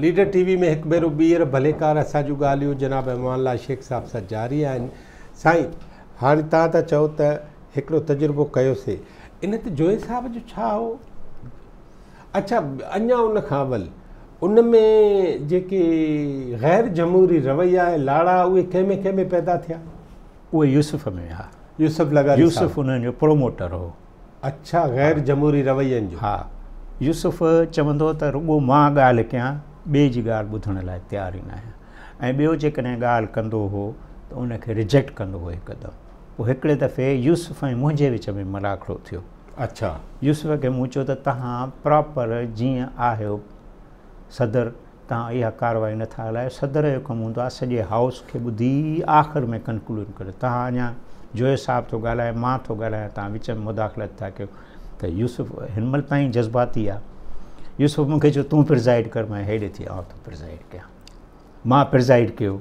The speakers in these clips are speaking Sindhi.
ليڊر ٽي وي ۾ هڪ ڀيرو ٻيهر ڀليڪار اسان جون ڳالهيون جناب امان الله شيخ صاحب سان جاري آهن سائين هاڻي تهان ٿا چئو ته هڪڙو تجربو ڪيو سي ان تي جوئي صاحب جو ڇا هو اچھا اڃا ان کان اول ان ۾ جيڪي غير جمهوري رويا لاڙا اهي ڪنهن ۾ ڪنهن ۾ پيدا ٿيا اهي يوسف ۾ ها. يوسف لغاري صاحب. يوسف انهن جو پروموٽر هو. اڇا غير جمهوري روين جو. ها يوسف چوندو ته رڳو مان ڳالهه ڪيان ٻئي جي ڳالهه ٻڌڻ لاء تيار ئي ناهيان ۽ ٻيو جيڪڏهن ڳالهه ڪندو هو ته ان کي رجيڪٽ ڪندو هو هڪدم پوء هڪڙي دفعي يوسف ۽ منهنجي وچ ۾ ملاکڙو ٿيو اڇا يوسف کي مون چيو ته تهان پراپر جيئن آهيو صدر تان اها ڪارروائي نه ٿا هلايو صدر جو ڪم هوندو آهي سڄي هائوس کي ٻڌي آخر ۾ ڪنڪلوڊ ڪري تان اڃا جويي صاحب ٿو ڳالهائي مان ٿو ڳالهايان تان وچ ۾ مداخلت ٿا ڪيو ته يوسف هن مهل تائين جذباتي آهي يوسف مونکي چيو تون پرزائيڊ ڪر مان هيڏي ٿي آئون ٿو پرزائيڊ ڪيان مان پرزائيڊ ڪيو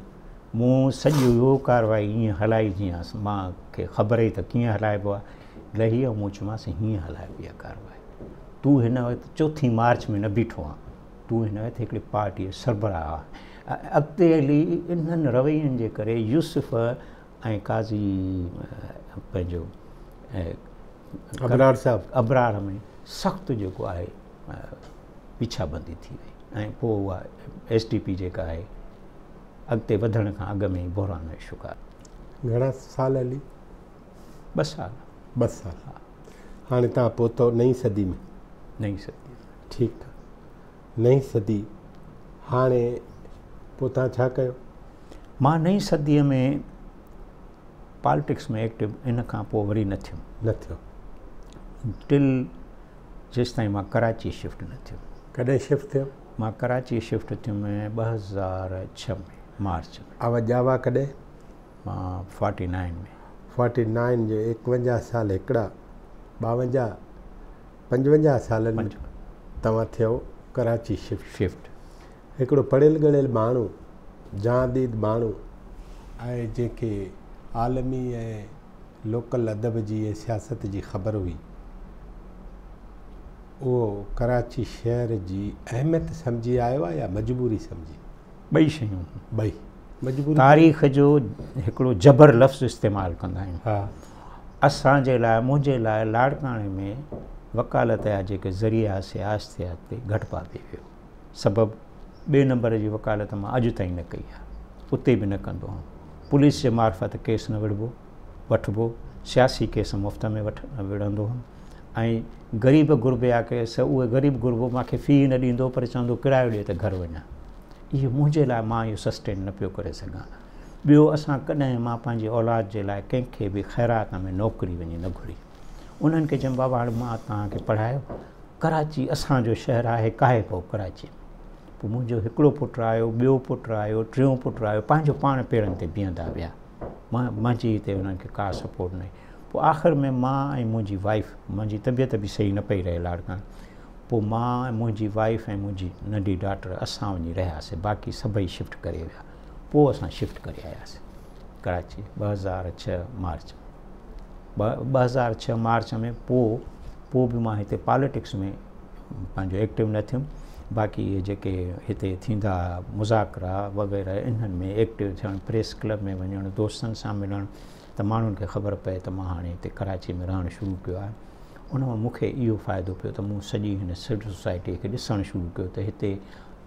مون سڄي اهو ڪارروائي ائين هلائي جيئن مان کي خبر ئي ته ڪيئن هلائبو آهي لهي مون چيومانس هيئن هلائبي آهي ڪارروائي تون هن وقت چوٿين مارچ ۾ نه بيٺو آهي تون هن وقت هڪڙي پارٽيء جو سربراهه آهين. اڳتي هلي انهن روين جي ڪري يوسف ۽ قاضي پنهنجو ابرار صاحب ابرار ۾ سخت جيڪو آهي پيڇا بندي ٿي وئي ۽ پوء اها ايس ڊي پي جيڪا آهي اڳتي وڌڻ کان اڳ ۾ بحران جو شڪار گهڻا سال هلي ٻه سال. ٻه سال. ها. هاڻي توهان پهتؤ نئين صدي ۾. نئين صدي ۾. ٺيڪ آ. نئين صدي هاڻي پوء توهان ڇا ڪيو؟ مان نئين صديء ۾ پالٽڪس ۾ ايڪٽو ان کان پوء وري نه ٿيم. نه ٿيو. ٽل جيستائين مان ڪراچي شفٽ نه ٿيم. ڪڏهن شفٽ ٿيو؟ مان ڪراچي شفٽ ٿيم ٻه هزار ڇهه ۾ مارچ ۾. اوهان ڄاوا ڪڏهن؟ Forty nine ۾. فارٽي نائن جو ايڪونجاهه سال هڪڙا ٻاونجاهه پنجونجاهه سالن ۾ توهان ٿيو ڪراچي شفٽ. هڪڙو پڙهيل ڳڙهيل ماڻهو، جهان ديد ماڻهو آهي جنهن کي عالمي ۽ لوڪل ادب جي ۽ سياست جي خبر هئي. اهو ڪراچي شهر جي اهميت سمجهي آيو آهي يا مجبوري سمجهي؟ ٻئي شيون. ٻئي. تاريخ جو هڪڙو جبر لفظ استعمال ڪندا آهيون اسان جي لاء منهنجي لاء لاڙڪاڻي ۾ وڪالت جا جيڪي ذريعا سياست ٿيا تي گهٽ پا پي ويو سبب ٻئي نمبر جي وڪالت مان اڄ تائين نه ڪئي آهي اتي به نه ڪندو آهي پوليس جي معرفت ڪيس نه وڙهبو وٺبو، سياسي ڪيس مفت ۾ وٺ وڙهندو هوم ۽ غريب غربي آ ڪي سه اهي غريب غربو مان کي في ئي نه ڏيندو پر چوندو ڪرايو ڏي ته گهر وڃان. اهو منهنجي لاء مان اهو سسٽين نه پيو ڪري سگهان. ٻيو اسان ڪڏهن مان پنهنجي اولاد جي لاء ڪنهن کي به خيرات ۾ نوڪري وڃي نه گهري. انهن کي چيم بابا هاڻي مان توهان کي پڙهايو ڪراچي اسان جو شهر آهي ڪاهي ڪو ڪراچي ۾ پوء منهنجو هڪڙو پٽ آيو ٻيو پٽ آيو ٽيون پٽ آيو پنهنجو پاڻ پيرن تي بيهندا ويا. منهنجي هتي انهن کي ڪا سپورٽ ناهي پوء آخر ۾ مان ۽ منهنجي وائيف منهنجي طبيعت به صحيح نه پئي رهي لاڙڪاڻي پوء مان ۽ منهنجي وائيف ۽ منهنجي ننڍي ڊاٽر اسان وڃي رهياسي باقي سڀئي شفٽ ڪري ويا پوء اسان شفٽ ڪري آياسي ڪراچي ٻه هزار ڇهه مارچ ٻه هزار ڇهه مارچ ۾ پوء پوء به مان هتي پاليٽڪس ۾ پنهنجو ايڪٽو نه ٿيم باقي اهي جيڪي هتي ٿيندا مذاڪرا وغيره انهن ۾ ايڪٽو ٿيڻ پريس ڪلب ۾ وڃڻ دوستن سان ملڻ ته ماڻهن کي خبر پئي ته مان هاڻي هتي ڪراچي ۾ رهڻ شروع ڪيو آهي ان مان مون کي اهو فائدو پيو ته مون سڄي هن سوسائٽي کي ڏسڻ شروع ڪيو ته هتي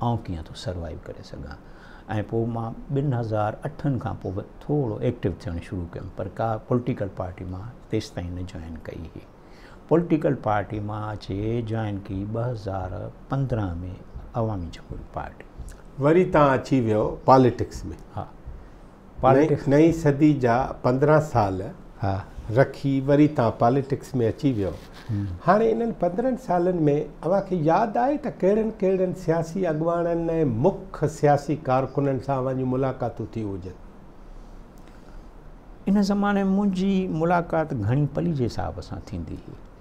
آئون ڪيئن ٿو سروائيو ڪري سگهان ۽ پوء مان ٻن هزار اٺن کان پوء ٿورو ايڪٽو ٿيڻ شروع ڪيم پر ڪا پوليٽيڪل پارٽي مان تيستائين نه جوائن ڪئي هئي پوليٽيڪل پارٽي مان اچي جوائن ڪئي ٻه هزار پندرهن ۾ عوامي جمهوري پارٽي وري تان اچي ويو پاليٽڪس ۾ ها پاليٽڪس. نئين صدي جا پندرهن سال رکي وري تان پاليٽڪس ۾ اچي ويو. هاڻي انهن پندرهن سالن ۾ اوهان کي ياد آهي ته ڪهڙن ڪهڙن سياسي اڳواڻن ۽ مک سياسي ڪارڪنن سان اوهان جون ملاقاتون ٿيون هجن؟ ان زماني ۾ منهنجي ملاقات گهڻي پليجي صاحب سان ٿيندي هئي.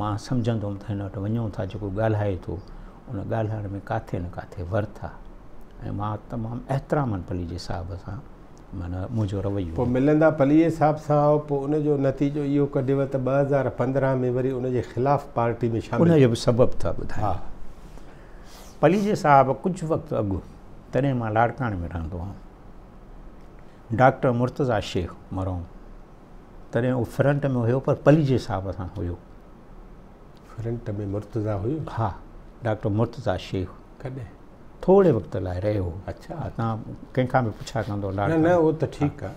مان سمجهندوم ته هن وٽ وڃون ٿا جيڪو ڳالهائي ٿو ان ڳالهائڻ ۾ ڪاٿي نه ڪاٿي ورٿ آ ۽ مان تمام احترامن پليجي صاحب سان معنيٰ منهنجو رويو پوء ملندا پليجي صاحب سان آئو پوء ان جو نتيجو اهو ڪڍيو ته ٻه هزار پندرهن ۾ وري ان جي خلاف پارٽي ۾ شامل ان جو به سبب ٿا ٻڌايان ها پليجي صاحب ڪجهه وقت اڳ تڏهن مان لاڙڪاڻي ۾ رهندو هئم ڊاڪٽر مرتضيٰ شيخ مرحوم تڏهن هو فرنٽ ۾ هيو پر پلي جي حساب سان هيو فرنٽ ۾ مرتضا هيو ها ڊاڪٽر مرتضا شيخ ڪڏهن ٿوري وقت لاء رهيو اچھا تان ڪنهن کان به پڇا ڪندو نه نه اهو ته ٺيڪ آ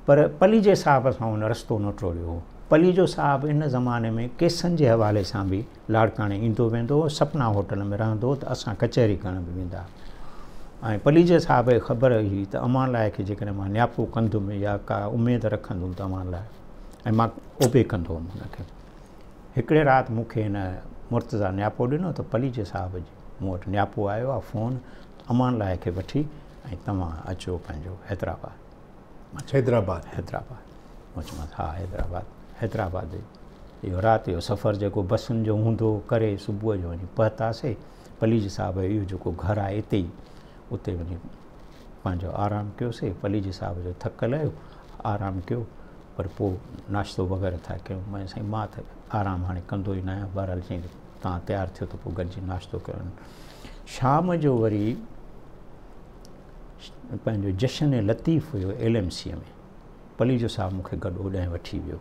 پر پلي جي صاحب سان ان رستو نه ٽوڙيو پلي جو صاحب ان زماني ۾ ڪيسن جي حوالي سان به لاڙڪاڻي ايندو ويندو هو، سپنا هوٽل ۾ رهندو هو ته اسان ڪچهري ڪرڻ به ويندا هئا ۽ پليجي صاحب کي خبر هئي ته اوهان لاء کي جيڪڏهن مان نياپو ڪندم يا ڪا اميد رکندم ته اوهان لاء ۽ مان اوبي ڪندو هوم هن کي هڪڙي رات مون کي هن مرتضا نياپو ڏنو ته پليجي صاحب جي مون وٽ نياپو آيو آهي فون امان لاء کي وٺي ۽ توهان اچو پنهنجو حيدرآباد حيدرآباد حيدرآباد مچمس ها حيدرآباد حيدرآباد اهو رات جو سفر جيڪو بسن جو هوندو ڪري صبح جو وڃي پهتاسي پليج صاحب اهو جيڪو گهر آهي اتي ئي اتي وڃي پنهنجو آرام ڪيوسي پليج صاحب جو ٿڪ لهيو آرام ڪيو پر پوء ناشتو وغيره ٿا ڪيون مئي سائين مان ته آرام هاڻي ڪندو ئي ناهيان بهرحال چيئي تان تيار ٿيو ته پوء گڏجي ناشتو ڪيون شام جو وري پنهنجو جشن لطيف هيو ايل ايم سيء ۾ پليجو صاحب مون کي گڏ اوڏانهن وٺي ويو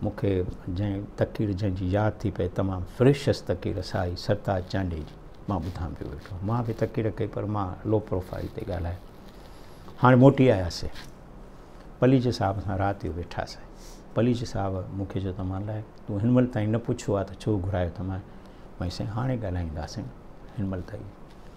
مون کي جنهن تقرير جنهن جي ياد ٿي پئي تمام فريشس تقرير سائي سرتاج چانڊيي جي مان ٻڌان پيو ويٺو مان به تقرير ڪئي پر مان لو پروفائل تي ڳالهايو هاڻي موٽي آياسي پليجي صاحب سان رات جو ويٺاسي پليجي صاحب مون کي چيو ته مان لاء تون هن مهل تائين نه پڇيو آهي ته ڇو گهرايو ته مان سائين هاڻي ڳالهائينداسين هن مهل تائين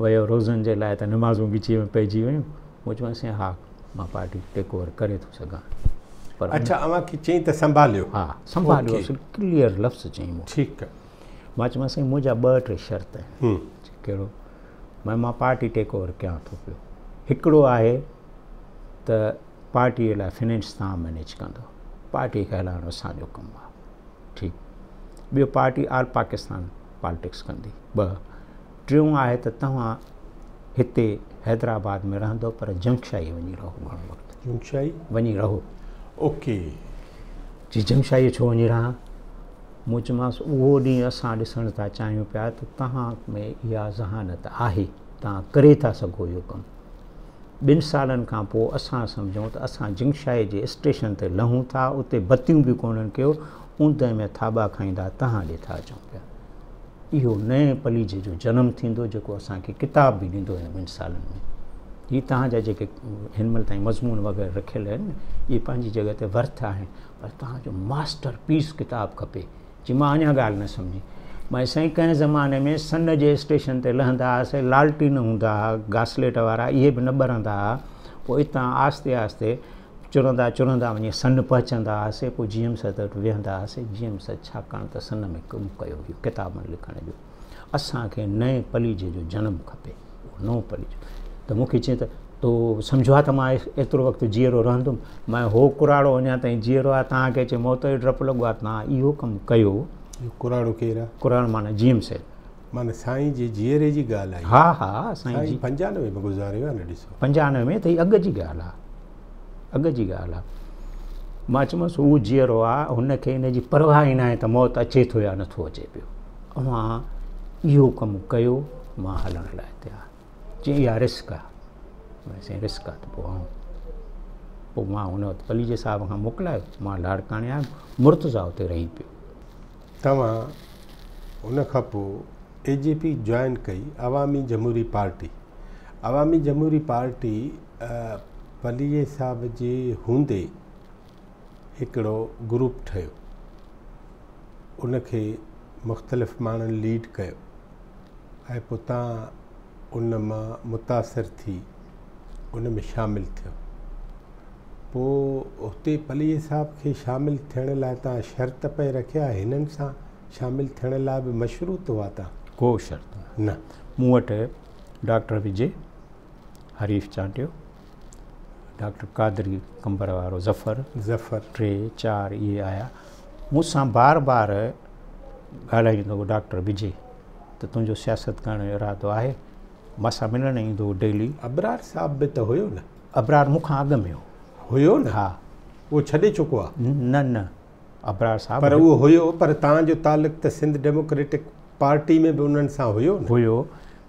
ويو روزن جي لاء ته نمازون وچي ۾ پئجي ويون مون چيومانس سائين ها مان پارٽي ٽيڪ اوور ڪري ٿو سگهان پر اچھا اوهان کي چئين ته سنڀاليو ها سنڀاليو اصل ڪليئر لفظ چئين مون ٺيڪ آ مان چيومانس سائين منهنجا ٻه ٽي شرط آهن ڪهڙو مان مان پارٽي ٽيڪ اوور ڪيان ٿو پيو هڪڙو آهي ته پارٽي لاء فنانس تان مينيج ڪندو پارٽي کي هلائڻو اسان جو ڪم آهي ٺيڪ ٻيو پارٽي آل پاڪستان پالٽڪس ڪندي. ٻه، ٽيون آهي ته توهان هتي حيدرآباد ۾ رهندو پر جنگشاهي وڃي رهو گهڻو وقت. جنگشاهي؟ وڃي رهو. اوڪي. جي جنگشاهي ڇو وڃي رهان؟ مون چيمانس اهو ڏينهن اسان ڏسڻ ٿا چاهيون پيا ته توهان ۾ اها ذهانت آهي، توهان ڪري ٿا سگهو اهو ڪم. ٻن سالن کان پوء اسان سمجهون ته اسان جنگشاهي جي اسٽيشن تي لهون ٿا، اتي بتيون به ڪونهن ڪيو اوندهه ۾ ٿاٻا کائيندا تهان ڏي ٿا اچون پيا. اهو نئين پليجهي جو جنم ٿيندو جيڪو اسان کي ڪتاب به ڏيندو هن ٻن سالن ۾. هي تهان جا جيڪي هن مهل تائين مضمون وغيره رکيل آهن نه اهي پنهنجي جڳهه تي ورٿ آهن پر تهان جو ماسٽر پيس ڪتاب کپي. چي مان اڃا ڳالهه نه سمجهي. مان سائين ڪنهن زماني ۾ سن جي اسٽيشن تي لهندا هئاسي لالٽين هوندا هئا گاسليٽ وارا اهي به نه ٻرندا هئا پوء اتان آهستي آهستي چرندا چرندا وڃي سن پهچندا هئاسين، پوء جي ايم سيد وٽ ويهندا هئاسين، جي ايم سيد ڇاڪاڻ ته سن ۾ ڪم ڪيو هيو ڪتابن لکڻ جو، اسان کي نئين پليجهي جو جنم کپي، اهو نئون پليجهو ته مون کي چيائين ته تو سمجهو آ ته مان ايترو وقت جيئرو رهندم، مئن هو ڪراڙو اڃا تائين جيئرو آ، توهان کي اچي موت جو ڊپ لڳو آ، توهان اهو ڪم ڪيو. اهو ڪراڙو ڪير آ؟ ڪراڙو معنيٰ جي ايم سيد. معنيٰ سائين جي جيئري جي ڳالهه آهي. ها ها سائين جي. پنجانوي ۾ گذاريو آهي نه ڏسو. پنجانوي ۾ ته اڳ جي ڳالهه آهي. اڳ جي ڳالهه آهي. مان چيمانس هو جيئرو آهي هن کي ان جي پرواهه ئي ناهي ته موت اچي ٿو يا نٿو اچي پيو. اوهان اهو ڪم ڪيو مان هلڻ لاء تيار. چي اها رسڪ آهي. مان سائين رسڪ آهي ته پوء آئون. پوء مان هن وقت پليجي صاحب کان موڪلايو مان لاڙڪاڻي آيم مرتضيٰ اتي رهي پيو. توهان ان کان پوء اي جي پي جوائن ڪئي عوامي جمهوري پارٽي عوامي جمهوري پارٽي پليجي صاحب جي هوندي هڪڙو گروپ ٺهيو ان کي مختلف ماڻهن ليڊ ڪيو ۽ پوء تان ان مان متاثر ٿي ان ۾ شامل ٿيو پوء هتي پليء صاحب کي شامل ٿيڻ لاء تان شرط پئي رکيا هنن سان شامل ٿيڻ لاء به مشروط هئا تان ڪو شرط نه مون وٽ ڊاڪٽر وجي حريف چانڊيو ڊاڪٽر قادري قمبر وارو ظفر ظفر ٽي چار اهي آيا مون سان بار بار ڳالهائيندو هو ڊاڪٽر بجي ته تنهنجو سياست ڪرڻ جو ارادو آهي مان سان ملڻ ايندو هو ڊيلي ابرار صاحب به ته هيو نه ابرار مون کان اڳ ۾ هو هيو نه ها اهو ڇڏي چڪو آهي نه نه ابرار صاحب پر اهو هيو پر تان جو تعلق ته سنڌ ڊيموڪريٽڪ پارٽي ۾ به انهن سان هيو نه هيو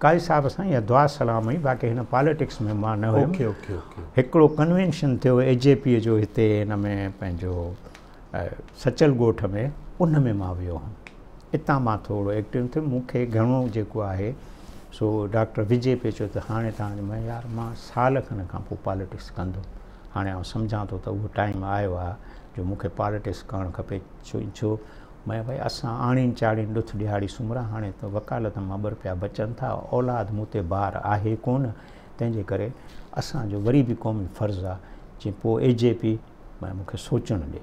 قاضي صاحب سان يا دعا سلام هئي باقي هن پاليٽڪس ۾ مان نه هيم اوڪي اوڪي اوڪي هڪڙو ڪنوينشن ٿيو اي جي پي جو هتي هن ۾ پنهنجو سچل ڳوٺ ۾ ان ۾ مان ويو هوم اتان مان ٿورو ايڪٽيو ٿيم مون کي گهڻو جيڪو آهي سو ڊاڪٽر وجي پيو چيو ته هاڻي تان جو يار مان سال کن کان پوء پاليٽڪس ڪندو هاڻي آئون سمجهان ٿو ته اهو ٽائيم آيو آهي جو مون کي پالٽڪس ڪرڻ کپي ڇو ميان ڀائي اسان آڻين چاڙين ڏٿ ڏهاڙي سومرا هاڻي ته وڪالت مان ٻه پيا بچن ٿا اولاد مون تي بار آهي ڪون تنهن جي ڪري اسان جو وري به قومي فرض آهي جي پوء اي جي پي مون کي سوچڻ ڏي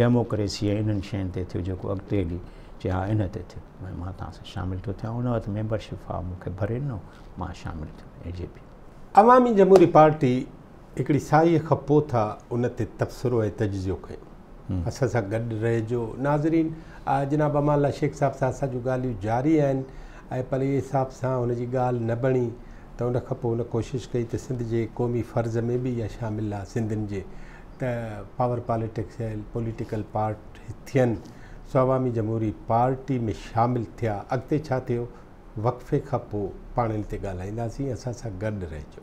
ڊيموڪريسي ۽ انهن شين تي ٿيو جيڪو اڳتي هلي چئي ها ان تي ٿيو ۽ مان توهان سان شامل ٿيو ٿيان ان وقت ميمبرشپ فارم مون کي ڀري ڏنو مان شامل ٿيو اي جي پي. عوامي جمهوري پارٽي هڪڙي ساهيء کان پوء ٿا ان تي تبصرو ۽ تجزيو ڪيون. اسان سان گڏ رهجو. ناظرين جناب امان الله شيخ صاحب سان اسان جون ڳالهيون جاري آهن ۽ پليء حساب سان هن جي ڳالهه نه بڻي ته ان کان پوء هن ڪوشش ڪئي ته سنڌ جي قومي فرض ۾ به اها شامل آهي سنڌين جي ته پاور پاليٽڪس ۽ پوليٽيڪل پارٽ ٿين سو عوامي جمهوري پارٽي ۾ شامل ٿيا اڳتي ڇا ٿيو وقفي کان پو پاڻ ان تي ڳالهائينداسين اسان سان گڏ رهجو.